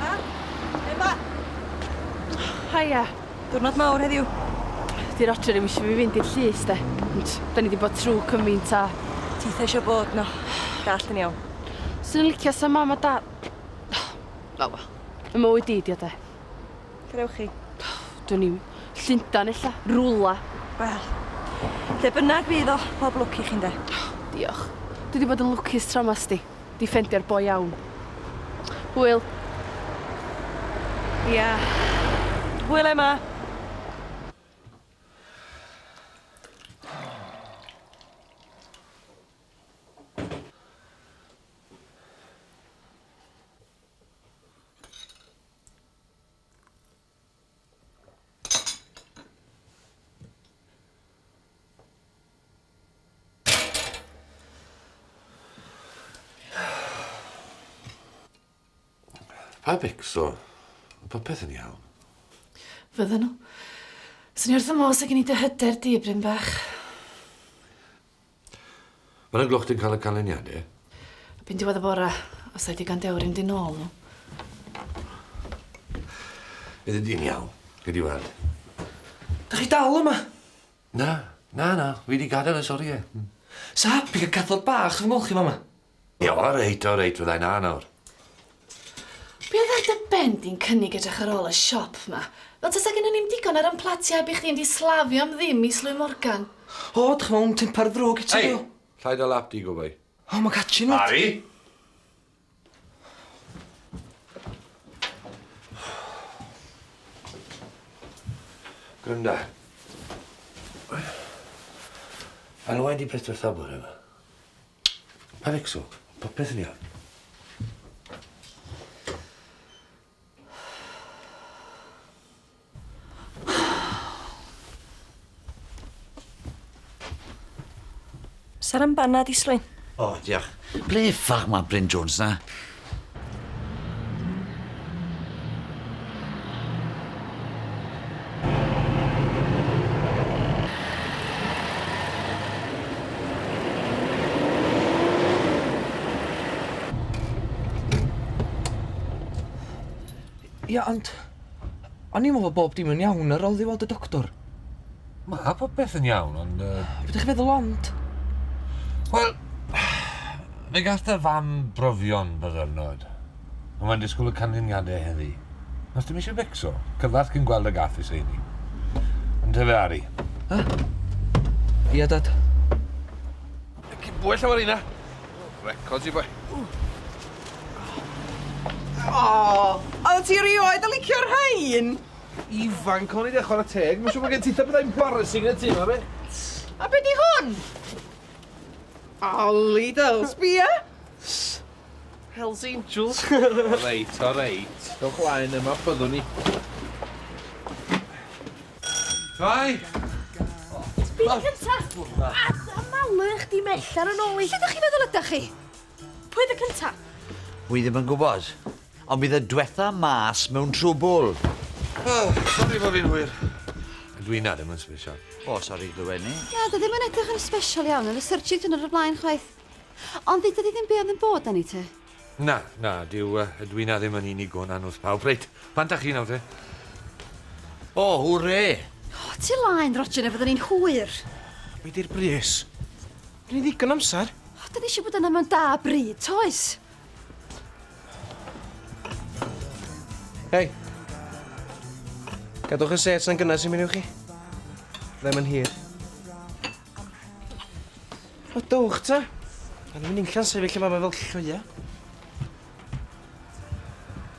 Emma? Emma? Haia. Diwrnod mawr heddiw. Di'r adre ddim eisiau fi fynd i'r llys de. Ond da ni wedi bod trwy cymaint a... Ti eitha eisiau bod no. Gall yn iawn. Swn i'n licio sa mam a da... Oh, wel. Y mywyd di, di o de. Lle ddewch chi? Dwn i'm. Llundain ella? Rwla. Wel, lle bynnag fydd o, pob lwc i chi ynde. Diolch. Dwi 'di bod yn lwcus tro 'ma, sti. 'Di ffendio'r boi iawn. Hwyl. Ia. Hwyl Emma. Pa becso? Popeth yn iawn. Fydden nhw. Swn i wrth y modd se gen i dy hyder di, Bryn Bach. Fan 'na gloch ti'n cael y canlyniade. Erbyn diwedd y bora, os ai digon dewr un di nôl nhw. Fyddi di'n iawn, gei di weld. Dych chi dal yma? Na, na, na, fi di gadael y sorie. Sa hapus cael cathod bach yn ymolchi fama. Ie, o reit, o reit, fydda i 'na nawr. Be' oedd ar dy ben di'n cynnig edrych ar ôl y siop 'ma? Fel tasa gynnon ni'm digon ar 'yn platia heb i chdi fynd i slafio am ddim i Slwy Morgan. O, dych chi mewn temper ddrwg gin ti do? Ei! Llai dy lap di, gwbei. O, ma'n catchy yndw? Harri! Granda. Ar y we di prydfertha bore 'ma? Panicso. Popeth yn iawn. Saran banna di, Sloen? O, diolch. Ble ffag mae Bryn Jones na? Ia, ond o'n i'n meddwl bod bob dim yn iawn ar ôl i fi weld y doctor. Mae popeth yn iawn, ond... Uh... Be dych chi'n feddwl ond? Wel, fe gath dy fam brofion byddyrnod. Ond mae'n disgwyl y canlyniadau heddi. Os dim eisiau becso, cyfarth cyn gweld y gath is heini. Yn te fe Ari. Ha? Ia, Dad. Cyn bwy llawer yna. Records i boi. O, oedd ti rioed yn licio'r rhain? Ifanc o'n i de, chwarae teg. Mae'n siŵr bod gen ti eitha bethau embarrassing yn y tŷ yma, be? A be di hwn? Oli del, sbia! Hells Angels. o reit, o reit. Dowch laen yma, byddwn ni. Fai! Byd cyntaf! As y malu chdi mellar yn ôl i. Lle da chi feddwl ydych chi? Pwy oedd y cyntaf? Wy ddim yn gwybod. Ond bydd y dwetha mas mewn trwbwl. O, sori fo fi'n hwyr. Ydw i na ddim yn special. O, sori glywed ni. Na, dy ddim yn edrych yn special iawn yn y surtsuit yn yr y blaen chwaith. Ond ddyda di ddim be oedd yn bod da ni te. Na, na, dyw, uh, ydw i na ddim yn unig o'n anwth pawb. Reit, pan da chi nawr te? O, hwre! O, ti laen, Roger, na fyddwn ni'n hwyr. Be di'r bris? Rwy'n ddigon amser. O, da ni eisiau bod yna mewn da bryd, toes? Hei! Gadwch y set yn gynnes i mi chi. Ddim yn hir. O, dwch ta. A ni'n mynd i'n llan sefyll yma fel llwyau.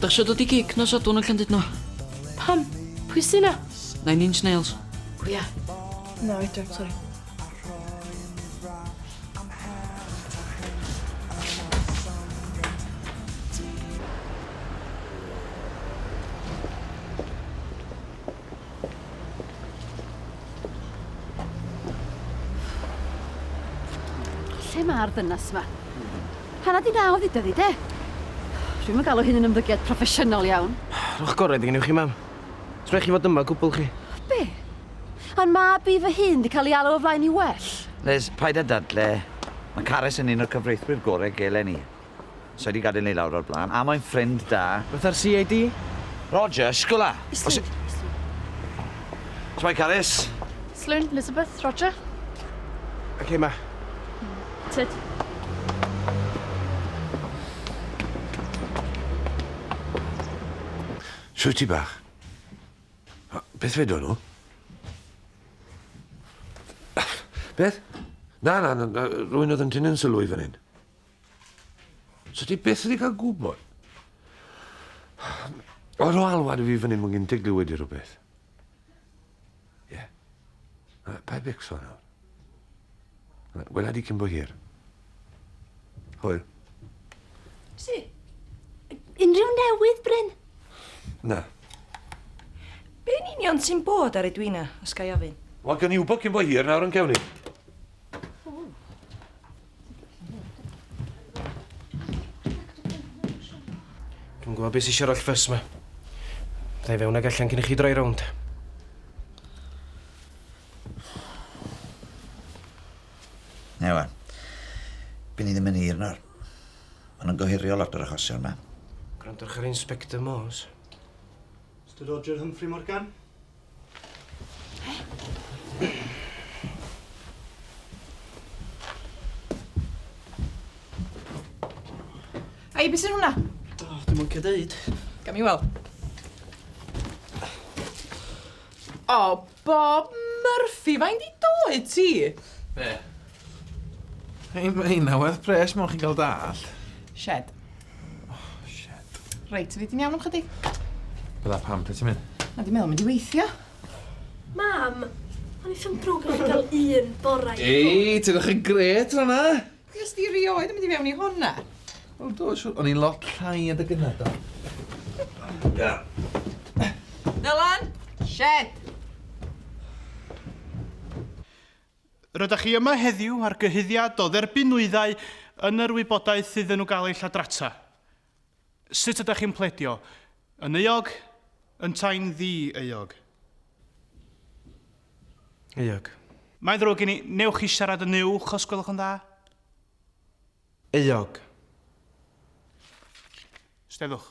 Dach isio dod i gig nos Sadwrn yn Llandudno? Pam? Pwy sy 'na? Nine Inch Nails. Pwy a? Na, oedran, sori. Lle mae'r ddynas yma? Hanna di naw dduda di, de? Rwy'n yn galw hyn yn ymddygiad proffesiynol iawn. Rhwch gorau dy gennych chi, mam. Sbech chi fod yma gwbl chi. Be? A'n mab i fy hun di cael ei alw o flaen i well? Liz, paid â dadle. Mae Carys yn un o'r cyfreithwyr gorau gelen i. Sa i 'di gadael ni lawr o'r blaen, a mae'n ffrind da. Beth ar CID? Roger, shwla! Islwyn, islwyn. Shwmae, Carys? Islwyn, Elizabeth, Roger. OK, ma. Tyd. Shwt ti bach? Beth fe dod nhw? Beth? Na, na, na, rwy'n oedd yn tynnu'n sylw i fan hyn. So ti byth wedi cael gwybod? Oedd o alwad i fi fyny mwyn gyn diglu wedi rhywbeth. Ie. Yeah. Pa bics o'n awr? Gwela di cyn bo hir. Hwyl. Si, unrhyw newydd, Bryn? Na. Be'n union sy'n bod ar Edwina, os ga i ofyn? Wel, gan i wybod cyn bo hir nawr yn cewni. Dwi'n gwybod beth sy'n siarad oll ffys ma. Dda i fewn ag allan cyn i chi droi rownd. Ewa, byn ni ddim yn hir nawr. Ond yn gohirio lot o'r achosion yma. Gwrandwch ar Inspector Morse. Mr Roger Humphrey Morgan? Ai, beth sy'n hwnna? O, oh, dim ond cadeud. Gam i weld. O, oh, Bob Murphy, fain di doi ti? Be? Hei, mae hynna werth pres, mae'n chi'n cael dall. Shed. Oh, shit. Reit, fi ti'n iawn am chydig? Bydda pam, pryd ti'n mynd? Na, di meddwl mynd i weithio. Mam, o'n i ddim drwg i chi gael un borau. Ei, ti'n eich yn gret rhan na? Ys di rioed yn mynd i fewn i hwnna? O, do, siwr. O'n i'n lot llai yn dy gynnau, do. Da. Dylan! Shed! Rydych chi yma heddiw ar gyhuddiad o dderbyn nwyddau yn yr wybodaeth iddyn nhw gael eu lladrata. Sut ydych chi'n pledio? Yn euog? Yntau'n ddi-euog? Euog. Mae'n ddrwg gen i. Wnewch chi siarad yn uwch os gwelwch yn dda? Euog. Steddwch.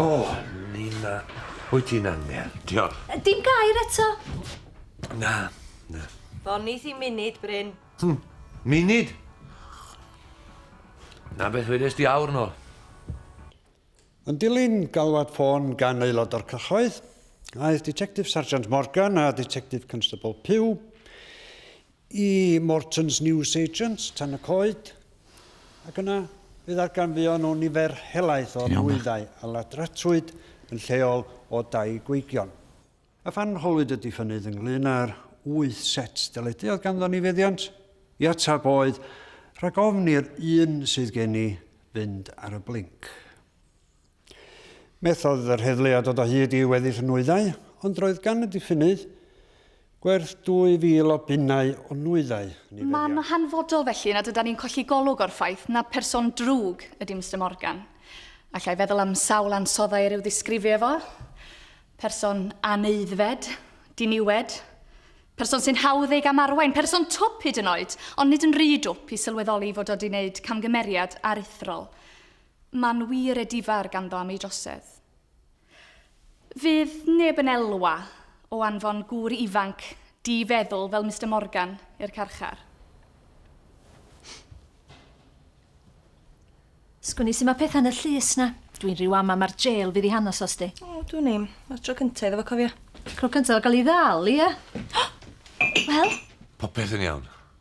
O, Nina, wyt ti'n angel. Diolch. Dim gair eto. Na, na. Fonith i munud, Bryn. Hmm, munud? Na beth wedes di awr nôl. Yn dilyn galwad ffôn gan aelod o'r cyhoedd, aeth Detective Sergeant Morgan a Detective Constable Pugh i Morton's Newsagents, Tan-y-coed, ac yna fe ddarganfuon nhw nifer helaeth o nwyddau a ladratrwyd yn lleol o dai gweigion. A phan holwyd y diffynnydd ynglŷn â'r wyth set deledu oedd ganddo ni feddiant i ateb oedd, Rhag ofn i'r un sydd gen i fynd ar y blinc. Methodd yr heddlu a dod o hyd i weddill y nwyddau, ond roedd gan y diffynnydd gwerth 2,000 o bunnau o nwyddau. Mae'n hanfodol felly nad ydan ni'n colli golwg o'r ffaith na pherson drwg ydi Mister Morgan. Alla i feddwl am sawl ansoddau er i'w ddisgrifio efo, person aneuddfed, diniwed, person sy'n hawdd ei gamarwain, person twp hyd yn oed, ond nid yn rhy dwp i sylweddoli fod o wedi wneud camgymeriad aruthrol. Mae'n wir e difar ganddo am ei drosedd. Fydd neb yn elwa o anfon gŵr ifanc di-feddwl fel Mister Morgan i'r carchar. Sgwn-i su' ma' petha'n y llys 'na. Dwi'n rhyw ama ma'r jêl fydd i hanas o sti. O, dwn i'm. Ma'r tro cynta iddo fo cofia. Cro cynta o ga'l 'i ddal, ia? Wel? Popeth yn iawn.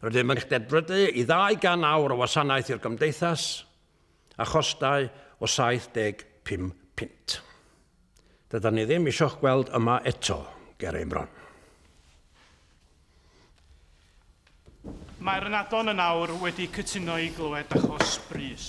Rydym yn cydbrydu i 200 awr o wasanaeth i'r Gymdeithas a chostau o 75 punt. Dydan ni ddim eisiau'ch gweld yma eto, ger ein bron. Mae'r ynadon yn awr wedi cytuno i glywed achos brys.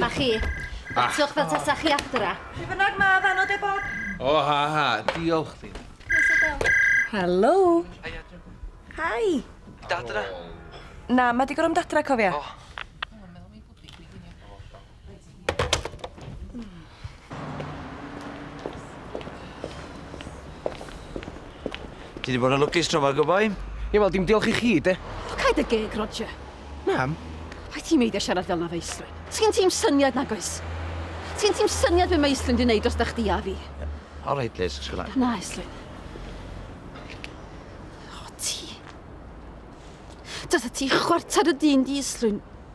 Mae chi. Batiwch fel tasa chi adra. Fi bynnag ma, fan o de bob. O, ha, ha. Diolch chdi. Helo. Hi. Dadra. Na, mae di gorau am dadra, cofia. O. Ti wedi bod yn lwcus tro ma, good boy? Ie, wel, dim diolch i chi, de. O, caid y geg, Roger. Mam? Pai ti'n meidio siarad fel na fe Islwyn. Ti'n ti'n syniad nag oes? Ti'n ti'n syniad fe mae Islwyn di wneud os da chdi a fi? All right, Liz, sgwna. Na, Islwyn. O, ti. Dyna ti chwarter y dyn di, Islwyn.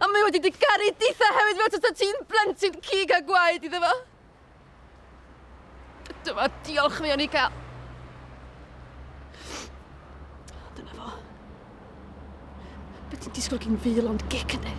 A mae wedi dy garu ditha hefyd fel tasa ti'n blentyn cig a gwaed iddo fo. Dyma diolch fi o'n i cael. Dyna fo. Be ti'n disgwyl gyn fil ond gic ynddi?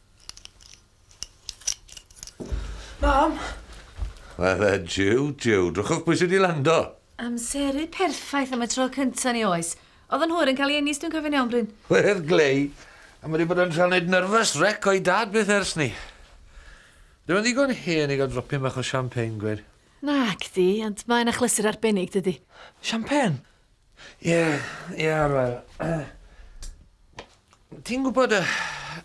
Mam! Fydde jiw, jiw. Drychwch pwy sydd wedi lando. Amseru perffaith am y tro cynta ni oes. Oedd yn hwyr yn cael ei eni os dwi'n cofio'n iawn, Bryn? Wedd glei. A mae wedi bod yn rhan neud nyrfys rec o'i dad byth ers ni. Dyw e'n ddigon hen i gael dropyn bach o champagne, gweud. Nagdi, ond mae'n achlysur arbennig, dydi? Champagne? Ie, ie, wel, ti'n gwybod y,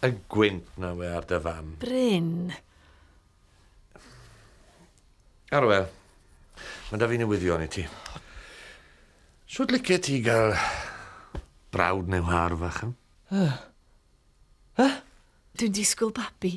y gwynt na we ar dy fam? Bryn. Arwel, mae da fi newyddion i ti. Sut licio ti gael brawd neu whar fach? Dwi'n disgwyl babi.